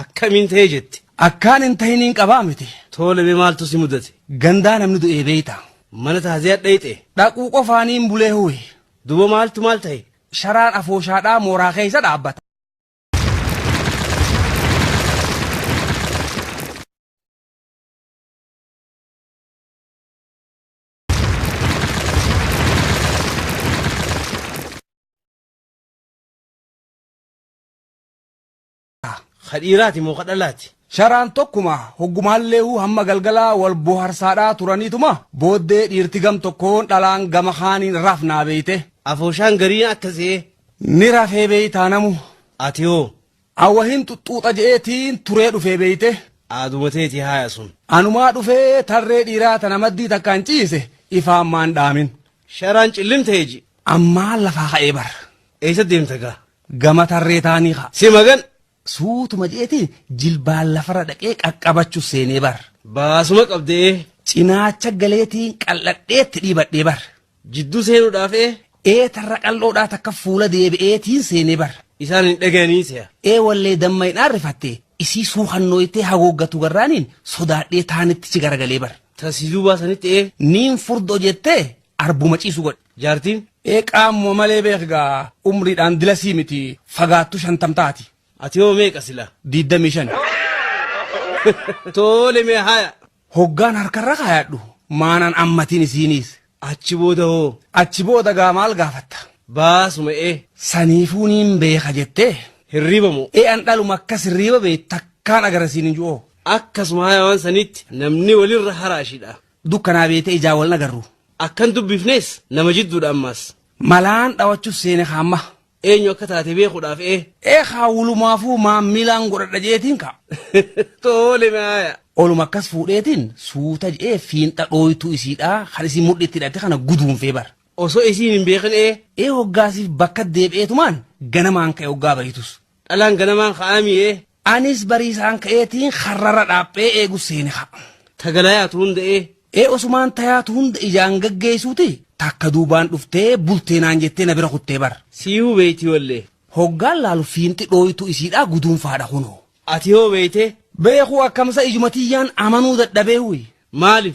Akkamiin ta'ee jette? Akkaan hin tahiniin qabaa miti. Toole mee maaltu si mudate? Gandaa namni du'ee beeyta. Mana taaziyaa dhayxe. Dhaquu qofaaniin bulee huwe. Duba maaltu maal ta'e? Sharaan afooshaadhaa mooraa keessa dhaabbata. Ka dhiiraati moo ka dhalaati? Sharaan tokkuma hoggumaalleehu hamma galgalaa wal boharsaadhaa turaniituma booddee dhiirti gam tokkoon dhalaan gama kaaniin rafnaa beeyte. Afooshaan gariin akka se'ee. Ni rafee beeytaa namu. Ati hoo? An wahin xuxxuuxa je'eetiin turee dhufee beeyte. Aaduma teeti haaya sun. Anumaa dhufee tarree dhiiraa tana maddii takkaan ciise ifaan maan dhaamin. Sharaan cillimtee ji. Ammaa lafaa ka'ee bar. Eessa deemta gaa? Gama tarree taanii ka. Si magan. Suutuma jeetiin jilbaan lafarra dhaqee qaqqabachu seenee bar. Baasuma qabdee. Cinaacha galeetiin qal'adheetti dhiibadhee bar. Jidduu seenuudhaaf ee. Ee tarra qal'oodhaa takka fuula deebi'eetiin seenee bar. Isaan hin dhaga'anii se'a. Ee wallee damma hin aarrifattee isii suukannooytee haguuggatu garraaniin sodaadhee taanittichi garagalee bar. Tasiisuu baasanitti ee. Niin furdoo jettee arbuma ciisu godhi jaartiin. Ee qaamuma malee beek gaa umriidhaan dilasii miti fagaattu shantam taati. Ati hoo meeqa sila? Diiddamii shan. Toole mee haya. Hoggaan harkarra kaayadhu maanaan ammatiin isiiniis. Achi booda hoo? Achi booda gaa maal gaafatta? Baasuma ee. Saniifuu niin beeka jettee. Hirriiba moo? Ee an dhaluma akkas hirriiba bee takkaan agarasiin hin ju'oo. Akkasuma haya waan saniitti namni walirra haraashidha. Dukkanaa beete ijaa waln agarru. Akkan dubbifnees nama jidduudha ammaas. Malaan dhawachuuf seene kaa amma. Eenyu akka taate beekudhaaf ee. Ee kaa wulumaafuu maammilaan godhadha je'eetiin kaa. Toole me aaya. Oluma akkas fuudheetiin suuta je'ee fiinxa dhooytuu isiidhaa kan isiin mudhii itti hidhatte kana guduunfee bar. Osoo isiin hin beekin ee. Ee hoggaasiif bakka deebi'eetumaan ganamaan ka'e hoggaa bayitus. Dhalaan ganamaan ka'aa mi'ee. Anis bariisaan ka'eetiin karrarra dhaaphee eegu seene ka. Ta galayaatu hunda ee. Ee osumaan tayaatu hunda ijaan gaggeessuuti takka duubaan dhuftee bultee naan jettee na bira kuttee bar. Siihuu beeytii wallee. Hoggaan laalu fiinxi dhooytuu isiidhaa guduunfaadha kunoo. Ati hoo beeytee? Beekuu akkamsa ijuma tiyyaan amanuu dadhabee huy. Maalif?